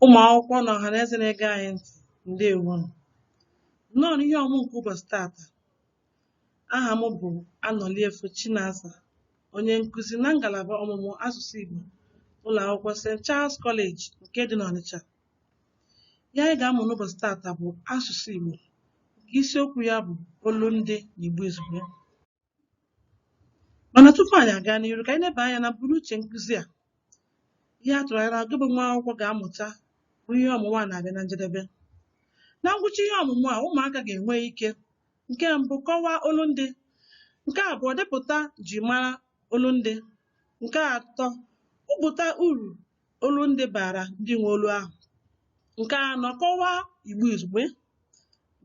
ụmụ akwụkwọ na ọha na eze na-ege anyị ntị ndewo nụ. nnọọ n'ihe ọmụ nke ụbọchị tata aha m bụ anọliefo chinasa onye nkụzi na ngalaba ọmụmụ asụsụ igbo ụlọ akwụkwọ st charles college nke dị n'ọnịcha ihe anyị ga-amụ n'ụbọchị tata bụ asụsụ igbo nke isiokwu ya bụ olundị na igbo izugbe mana tupu anyị aga n'iru ka anyị leba anya na mbunuche nkụzi a ihe a tụrụ anya na gị bụ nwa akwụkwọ ga-amụta bụ ihe ọmụmụ a na-abịa na njedebe na ngwụcha ihe ọmụmụ a ụmụaka ga-enwe ike nke mbụ kọwaa olundị nke abụọ depụta ji mara olundị nke atọ kwupụta uru olundị bara ndị nwe olu ahụ nke anọ kọwaa igbo izugbe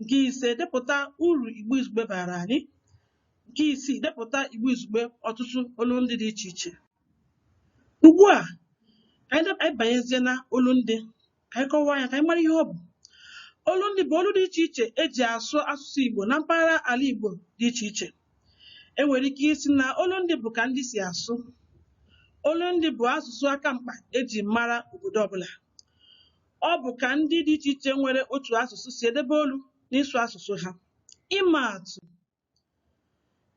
nke ise depụta uru igbo izugbe bara anyị nke isii depụta igbo izugbe ọtụtụ olundị dị iche iche ugbu a ka anyị dep- anyị banyezie na olundị ka anyị kọwaa ya ka anyị mara ihe ọ bụ olundị bụ olu dị iche iche e ji asụ asụsụ igbo na mpaghara ala igbo dị iche iche E nwere ike ịsị na olundị bụ ka ndị si asụ. Olundị bụ asụsụ aka mkpa e ji mara obodo ọbụla. Ọ bụ ka ndị dị iche iche nwere otu asụsụ si edebe olu n'ịsụ asụsụ ha. Ịma atụ,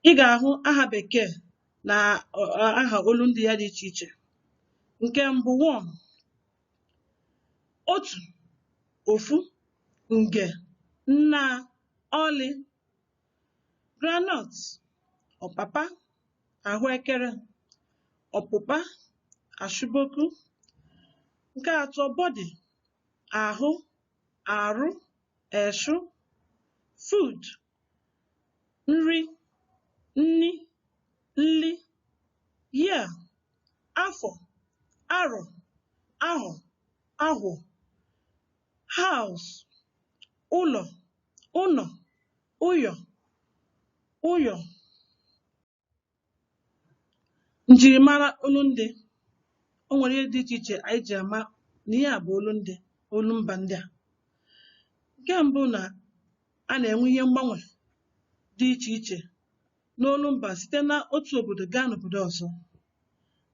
ị ga-ahụ aha Bekee na aha olundị ya dị iche iche. Nke mbụ one, otu, ofu, nge, nnaa, ọlị, groundnut, ọpapa, ahụekere, ọpụpa, ashụboku. Nke atọ body, ahụ, arụ, eshụ, food, nri, nni, nli, year, afọ, arọ, ahọ, ahwọ, house, ụlọ, ụnọ ụyọ ụyọ njirimara olundị o nwere ihe dị iche iche anyị ji ama na ihe a bụ olundị olumba ndị a nke mbụ na a na-enwe ihe mgbanwe dị iche iche n'olumba site n'otu obodo gaa n'obodo ọzọ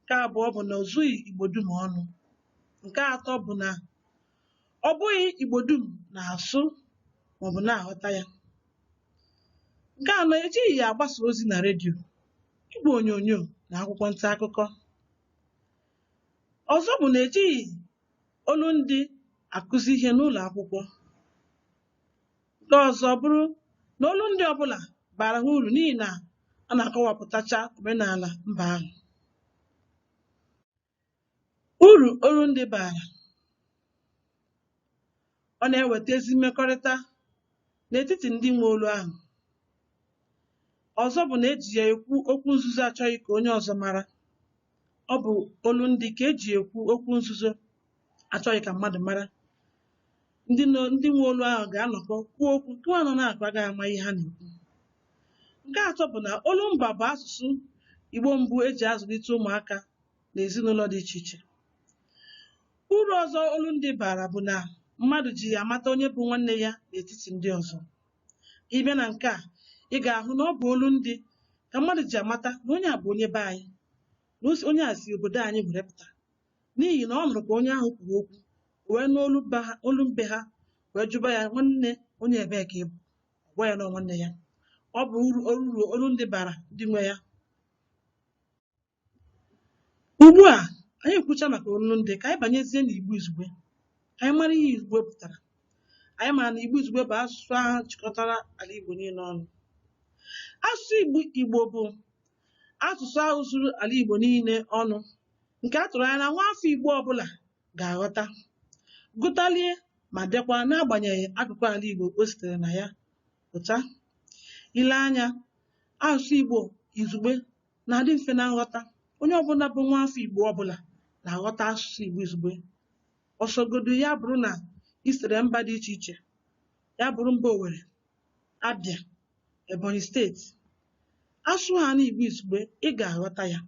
Nke abụọ bụ na o zughị Igbo dum ọnụ. Nke atọ bụ na ọ bụghị Igbo dum na-asụ maọbụ na-aghọta ya. Nke anọ, ejighị ya agbasa ozi na redio, igwe onyonyo na akwụkwọ nta akụkọ. Ọzọ bụ na ejighị olundị akụzi ihe n'ụlọ akwụkwọ. Nke ọzọ bụrụ na olu ndị ọbụla bara ha uru n'ihi na a na-akọwapụtacha omenala mba ahụ. Uru olu ndị bara ọ na-eweta ezi mmekọrịta n'etiti ndị nwe olu ahụ. Ọzọ bụ na e ji ya ekwu okwu nzuzo a chọghị ka onye ọzọ mara. ọ bụ olu ndị ka eji ekwu okwu nzuzo achọghị ka mmadụ mara ndị ndị nwe olu ahụ ga-anọkọ kwuo okwu nke nwa nọ n'akụkụ agaghị ama ihe ha na-ekwu nke atọ bụ na olu mba bụ asụsụ igbo mbụ eji azụlite ụmụaka n'ezinụlọ dị iche iche uru ọzọ olu ndị bara bụ na mmadụ ji ya amata onye bụ nwanne ya n'etiti ndị ọzọ ka ị bịa na nke a ị ga-ahụ na ọ bụ olu ndị ka mmadụ ji amata na onye a bụ onye be anyị na o si- onye a si obodo anyị were pụta n'ihi na ọ nụrụ ka onye ahụ kwuru okwu o wee nụ olu mba ha olu be ha wee jụba ya nwanne onye ebee ka ị bụ ọ gwa ya na ọ nwanne ya ọ bụ uru uru olu ndị bara ndị nwe ya Ugbu a anyị ekwucha maka olu ndị ka anyị banyezie n'Igbo Izugbe ka anyị mara ihe Izugbe pụtara. Anyị mara na Igbo Izugbe bụ asụsụ ahụ chịkọtara ala Igbo niile ọnụ. Asụsụ Igbo Igbo bụ asụsụ ahụ zuru ala Igbo niile ọnụ nke a tụrụ anya na nwaafọ Igbo ọbụla ga-aghọta, gụtalie ma dekwa n'agbanyeghị akụkụ ala Igbo o sitere na ya pụta. I lee anya, asụsụ Igbo Izugbe na-adị mfe na nghọta onye ọbụla bụ nwa afọ Igbo ọbụla na-aghọta asụsụ Igbo izugbe ọ sọgodu ya bụrụ na i sitere mba dị iche iche ya bụrụ mba Owere Abịa Ebonyi steeti a sụhaala Igbo izugbe ị ga-aghọta ya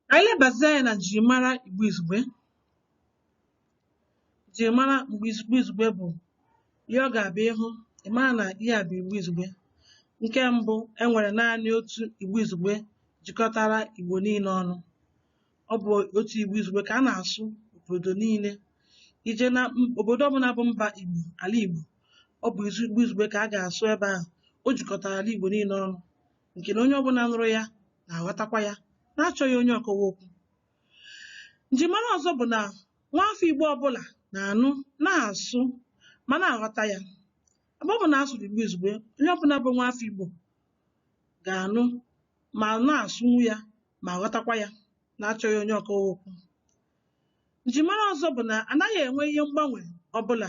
Ka anyị lebazie anya na njirimara Igbo Izugbe. Njirimara Igbo Iz- Igbo Izugbe bụ ihe ọ ga-abụ ị hụ, ị mara na ihe a bụ Igbo Izugbe. Nke mbụ, e nwere naanị otu Igbo Izugbe jikọtara Igbo niile ọnụ. Ọ bụ otu Igbo Izugbe ka a na-asụ obodo niile. I je na m- obodo ọbụla bụ mba Igbo, ala Igbo, ọ bụ izu- Igbo Izugbe ka a ga-asụ ebe ahụ. O jikọtara ala Igbo niile ọnụ. nke na onye ọbụla nụrụ ya na-aghọtakwa ya n'achọghị onye ọkọwa okwu njimara ọzọ bụ na nwaafọ Igbo ọbụla na-anụ na-asụ ma na-aghọta ya ebe ọbụla a sụrụ Igbo izugbe onye ọbụla bụ nwaafọ Igbo ga-anụ ma na-asụnwu ya ma ghọtakwa ya n'achọghị onye ọkọwa okwu njimara ọzọ bụ na anaghị enwe ihe mgbanwe ọbụla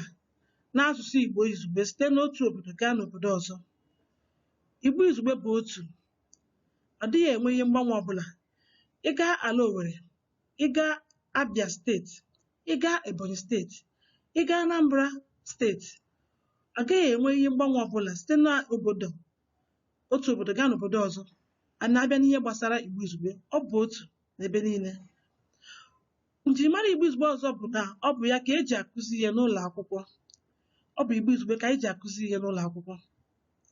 n'asụsụ Igbo izugbe site n'otu obodo gaa n'obodo ọzọ Igbo Izugbe bụ otu. Ọ dịghị enwe ihe mgbanwe ọbụla. Ị gaa ala Owere, ị gaa Abia steeti, ị gaa Ebonyi steeti, ị gaa Anambra steeti, ọ gaghị enwe ihe mgbanwe ọbụla site n'obodo otu obodo gaa n'obodo ọzọ. A na-abịa n'ihe gbasara Igbo Izugbe, ọ bụ otu n'ebe niile. Njirimara Igbo Izugbe ọzọ bụ na ọ bụ ya ka e ji akụzi ihe n'ụlọ akwụkwọ. Ọ bụ Igbo Izugbe ka e ji akụzi ihe n'ụlọ akwụkwọ.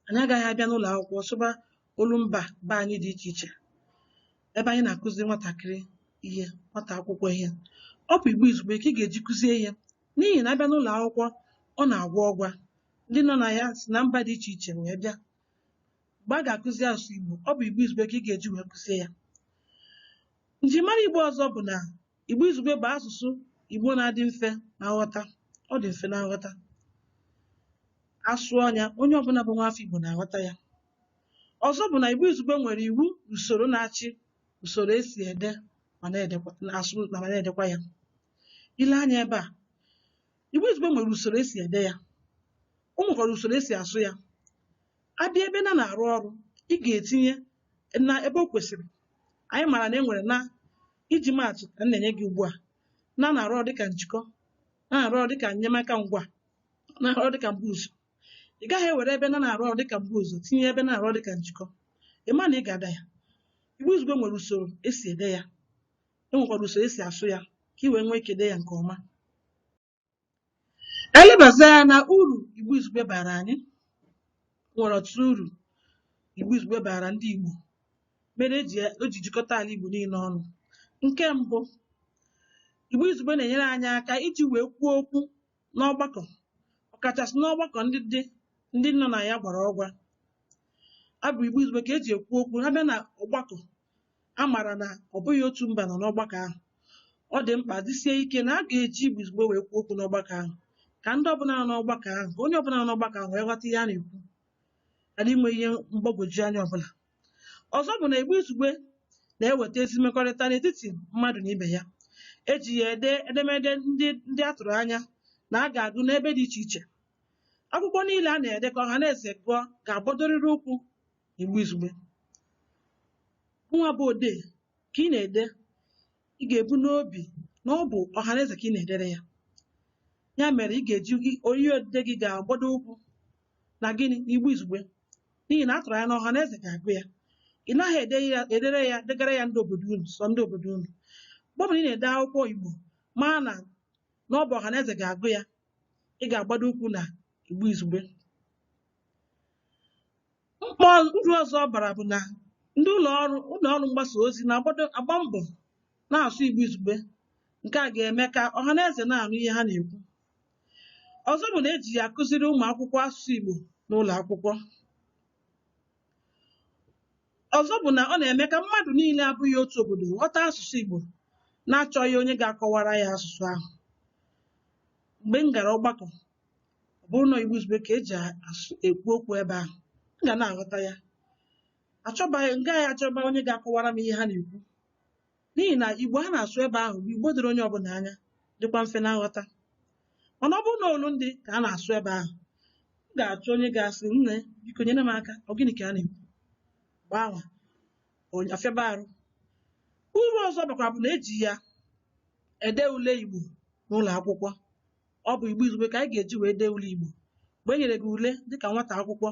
anyị agaghị abịa n'ụlọ akwụkwọ sụba olumba be anyị dị iche iche ebe anyị na-akụzi nwatakịrị ihe nwata akwụkwọ ihe ọ bụ igbo izugbe ka ị ga-eji kụzie ihe n'ihi na a bịa n'ụlọ akwụkwọ ọ na-agwa ọgwa ndị nọ na ya si na mba dị iche iche wee bịa mgbe a ga-akụzi asụsụ igbo ọ bụ igbo izugbe ka ị ga-eji wee kụzie ya njirimara igbo ọzọ bụ na Igbo Izugbe bụ asụsụ Igbo na-adị mfe na nghọta. Ọ dị mfe na nghọta. A sụọ ya, onye ọbụla bụ nwaafọ Igbo na-aghọta ya. Ọzọ bụ na Igbo Izugbe nwere iwu na usoro na-achị usoro e si ede ma na-edekwa na asụ na ma na-edekwa ya. I lee anya ebe a, Igbo Izugbe nwere usoro e si ede ya. O nwekwara usoro e si asụ ya. a bịa ebe na na-arụ ọrụ ị ga-etinye na ebe o kwesịrị anyị maara na e nwere na iji maa atụ ka m na-enye gị ugbu a na na-arụ ọrụ dịka njikọ na na-arụ ọrụ dịka enyemaka ngwaa na-arụ ọrụ dịka mbuụzọ ị gaghị ewere ebe na na-arụ ọrụ dịka mbuụzọ tinye ebe na-arụ ọrụ dịka njikọ ị ma na ị ga-ada ya igbo izugbe nwere usoro e si ede ya e nwekwara usoro e si asụ ya ka ị wee nwee ike dee ya nke ọma Ka anyị lebazie anya na uru Igbo Izugbe baara anyị. O nwere ọtụtụ uru Igbo Izugbe baara ndị Igbo mere e ji o ji jikọta ala Igbo niile ọnụ. Nke mbụ, Igbo Izugbe na-enyere anyị aka iji wee kwuo okwu n'ọgbakọ ọkachasị n'ọgbakọ ndị dị ndị nọ na ya gwara ọgwa. Ọ bụ Igbo Izugbe ka e ji ekwu okwu a bịa na ọgbakọ a maara na ọ bụghị otu mba nọ n'ọgbakọ ahụ ọ dị mkpa dịsie ike na a ga-eji igbo izugbe wee kwuo okwu n'ọgbakọ ahụ ka ndị ọbụla nọ n'ọgbakọ ahụ ka onye ọbụla nọ n'ọgbakọ ahụ wee ghọta ihe a na-ekwu ghara inwe ihe mgbagwoju anya ọbụla ọzọ bụ na igbo izugbe na-eweta ezi mmekọrịta n'etiti mmadụ na ibe ya e ji ya ede edemede ndị ndị a tụrụ anya na a ga-agụ n'ebe dị iche iche akwụkwọ niile a na-ede ka ọhaneze gụọ ga-agbadorịrị ụkwụ Igbo Izugbe nwa bụ odee ka ị na-ede ị ga-ebu n'obi na ọ bụ ọhaneze ka ị na-edere ya ya mere ị ga-eji gị oyi odide gị ga-agbado ụkwụ na gịnị na Igbo Izugbe n'ihi na a tụrụ anya na ọhaneze ga-agụ ya ị naghị ede ya edere ya degara ya ndị obodo unu sọ ndị obodo unu mgbe ọbụla ị na-ede akwụkwọ Igbo maa na na ọ bụ ọhaneze ga-agụ ya ị ga-agbado ụkwụ na Igbo Izugbe Mkpa uru ọzọ ọ bara bụ na ndị ụlọ ọrụ ụlọ ọrụ mgbasa ozi na-agbado agba mbọ na-asụ Igbo izugbe. Nke a ga-eme ka ọha na eze na-anụ ihe ha na-ekwu. Ọzọ bụ na e ji ya akụziri ụmụ akwụkwọ asụsụ Igbo n'ụlọ akwụkwọ. Ọzọ bụ na ọ na-eme ka mmadụ niile abụghị otu obodo ghọta asụsụ Igbo na-achọghị onye ga-akọwara ya asụsụ ahụ. Mgbe m gara ọgbakọ ọ bụrụ na Igbo Izugbe ka e ji asụ ekwu okwu ebe ahụ m ga na-aghọta ya achọbaghị m gaghị achọba onye ga-akọwara m ihe ha na-ekwu n'ihi na Igbo a na-asụ ebe ahụ bụ Igbo doro onye ọbụla anya dịkwa mfe na nghọta mana ọ bụrụ na olu ndị ka a na-asụ ebe ahụ m ga-achọ onye ga-asị nne biko nyere m aka ọ gịnị ka a na-ekwu ebe anwa onye afịaba arụ uru ọzọ ọ bakwa bụ na e ji ya ede ule Igbo n'ụlọ akwụkwọ ọ bụ Igbo Izugbe ka anyị ga-eji wee dee ule Igbo mgbe e nyere gị ule dịka nwata akwụkwọ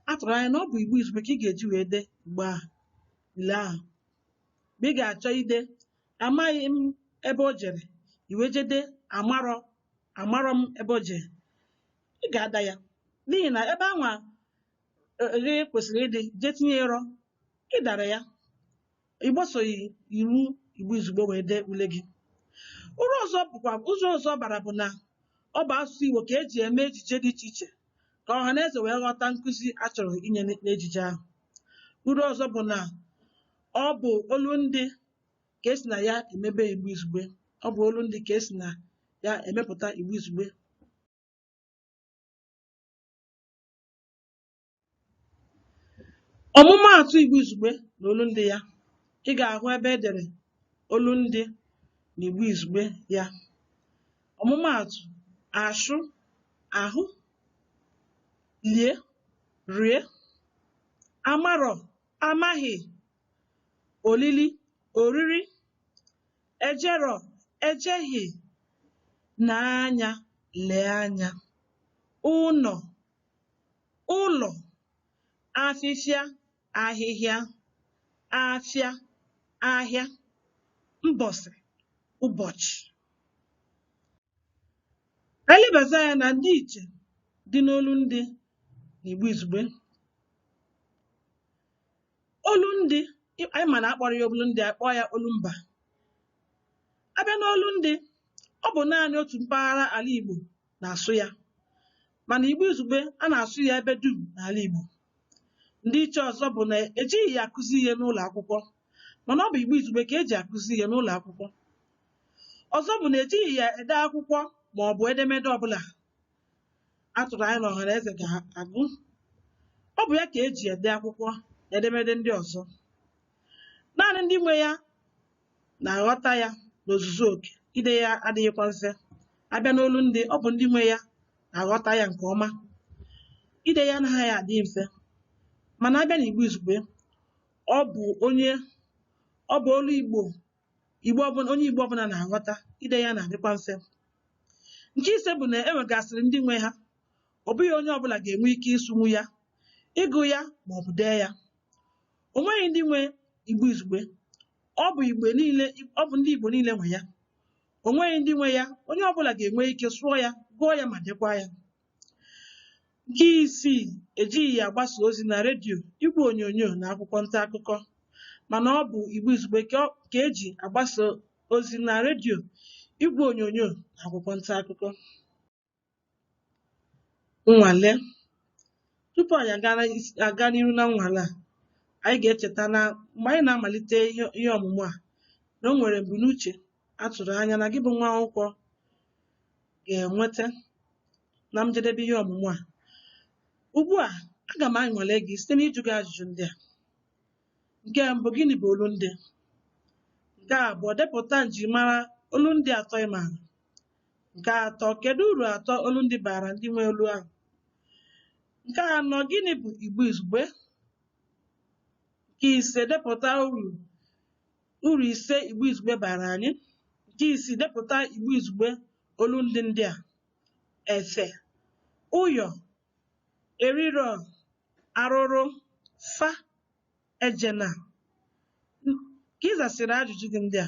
a tụrụ anya na ọ bụ Igbo Izugbe ka ị ga-eji wee dee Igbo ahụ ule ahụ mgbe ị ga-achọ ide amaghị m ebe o jere i wee jee dee amarọ amarọ m ebe o jere ị ga-ada ya n'ihi na ebe anwa ghị kwesịrị ịdị jee tinye rọ ị dara ya ị gbasoghị iwu igbo izugbe wee dee ule gị uru ọzọ bụkwa uru ọzọ ọ bara bụ na ọ bụ asụsụ igbo ka e ji eme ejije dị iche iche ka ọha na eze wee ghọta nkụzi a chọrọ inye n'ejije ahụ uru ọzọ bụ na ọ bụ olu ndị ka e si na ya emebe igbo izugbe ọ bụ olu ndị ka e si na ya emepụta igbo izugbe ọmụmaatụ Igbo Izugbe na olundị ya ị ga-ahụ ebe e dere olundị na Igbo Izugbe ya ọmụmaatụ ashụ ahụ lie rie amarọ amaghị olili oriri ejerọ ejeghị nee anya lee anya ụnọ ụlọ afịfịa ahịhịa afịa ahịa mbọsị ụbọchị anyị lebazie anya na ndịiche dị n'olu ndị na Igbo Izugbe olu ndị anyị ma na akpọrọ ya olu ndị a kpọọ ya olu mba a bịa n'olu ndị ọ bụ naanị otu mpaghara ala Igbo na-asụ ya mana Igbo Izugbe a na-asụ ya ebe dum n'ala Igbo. Ndị iche ọzọ bụ na ejighị ya akụzi ihe n'ụlọ akwụkwọ mana ọ bụ Igbo Izugbe ka eji akụzi ihe n'ụlọ akwụkwọ. Ọzọ bụ na ejighị ya ede akwụkwọ ma ọ bụ edemede ọbụla a tụrụ anya na ọhaneze ga-agụ. Ọ bụ ya ka eji ede akwụkwọ na edemede ndị ọzọ. Naanị ndị nwe ya na-aghọta ya n'ozuzu oke ide ya adịghịkwa mfe abịa n'olundị ọ bụ ndị nwe ya na-aghọta ya nke ọma ide ya anaghị adị mfe mana abịa na Igbo Izugbe ọ bụ onye ọ bụ olu Igbo Igbo ọbụla onye Igbo ọbụla na-aghọta ide ya na-adịkwa mfe nke ise bụ na e nwegasịrị ndị nwe ha ọ bụghị onye ọbụla ga-enwe ike ịsụnwu ya ịgụ ya ma ọ bụ dee ya o nweghị ndị nwe Igbo Izugbe ọ bụ Igbo niile ọ bụ ndị Igbo niile nwe ya o nweghị ndị nwe ya onye ọbụla ga-enwe ike sụọ ya gụọ ya ma dekwa ya nke isii ejighị ya agbasa ozi na redio igwe onyonyo na akwụkwọ nta akụkọ mana ọ bụ Igbo Izugbe ka ọ- ka eji agbasa ozi na redio igwe onyonyo na akwụkwọ nta akụkọ Nnwale. Tupu anyị agara is- aga n'iru na nnwale a, anyị ga-echeta na mgbe anyị na-amalite ihe ihe ọmụmụ a, na o nwere mbunuche a tụrụ anya na gị bụ nwa akwụkwọ ga-enweta na njedebe ihe ọmụmụ a. Ugbu a, aga m anwale gị site n'ịjụ gị ajụjụ ndị a. Nke mbụ, gịnị bụ olundị? Nke abụọ, depụta njirimara olundị atọ ị maara. Nke atọ, kedu uru atọ olundị baara ndị nwe olu ahụ? Nke anọ, gịnị bụ Igbo Izugbe? Nke ise, depụta uru uru ise Igbo Izugbe baara anyị. Nke isii, depụta Igbo Izugbe olundị ndị a. Efe, ụyọ, eriro, arụrụ, fa, ejena. Ka ị zasịrị ajụjụ gị ndị a.